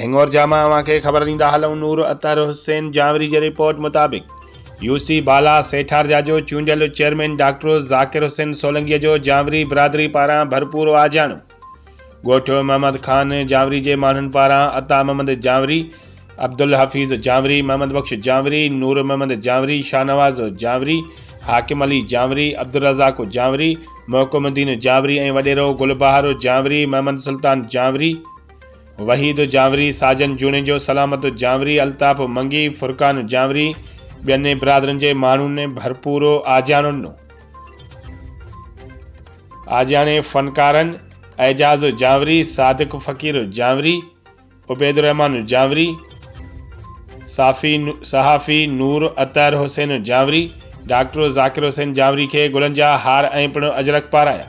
هينگور جا مان اوهان کي خبر ڏيندا هلون نور اطهر حسين جانوري جي رپورٽ مطابق يو سي بالا سيٺار جا جو چونڊيل چيئرمين ڊاڪٽر ذاڪر حسين سولنگي جو جانوري برادري پاران ڀرپور آجياڻو ڳوٺ محمد خان جانوري جي ماڻهن پاران عطا محمد جانوري عبدالحفيظ جانوري محمد بخش جانوري نور محمد جانوري شاهنواز جانوري حاڪم علي جانوري عبدالرزاق جانوري محڪم الدين جانوري ۽ وڏيرو گل بهار جانوري محمد سلطان جانوري وحيد جانوري، ساجن جوڻيجو، سلامت جانوري، الطاف منگي، فرقان جانوري ٻين برادرين جي ماڻهن ڀرپور آجياڻو ڏنو. آجياڻي فنڪارن اعجاز جانوري، صادق فقير جانوري، عبيدالرحمان جانوري، صحافي نور اطهر حسين جانوري، ڊاڪٽر ذاڪر حسين جانوري کي گلن جا هار ۽ پڻ اجرڪ پارايا.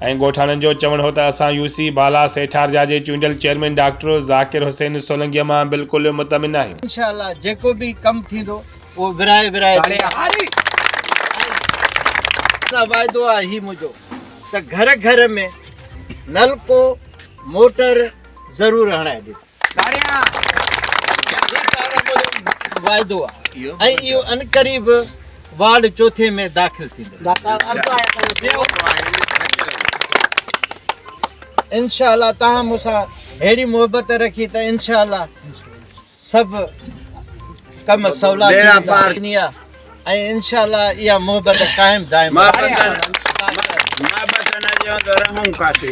۽ ڳوٺاڻن جو چوڻ هو ته اسان يو سي بالا سيٺارجا جي چونڊيل چيئرمين ڊاڪٽر ذاڪر حسين سولنگيء مان بلڪل مطمئن آهيون. انشاء الله جيڪو به ڪم ٿيندو اهو ورهائي ورهائي سان واعدو آهي هي منهنجو ته گهر گهر ۾ نلڪو موٽر ضرور هڻائي ڏيندس. تاڙيان! هي تاڙيان موجب واعدو آ ۽ اهو عنقريب وارڊ چوٿين ۾ داخل ٿيندو. انشاء الله توهان مون سان ههڙي محبت رکي ته انشاء الله سڀ ڪم سولا ٿيندا ۽ انشاء الله اها محبت قائم دائم رهندي.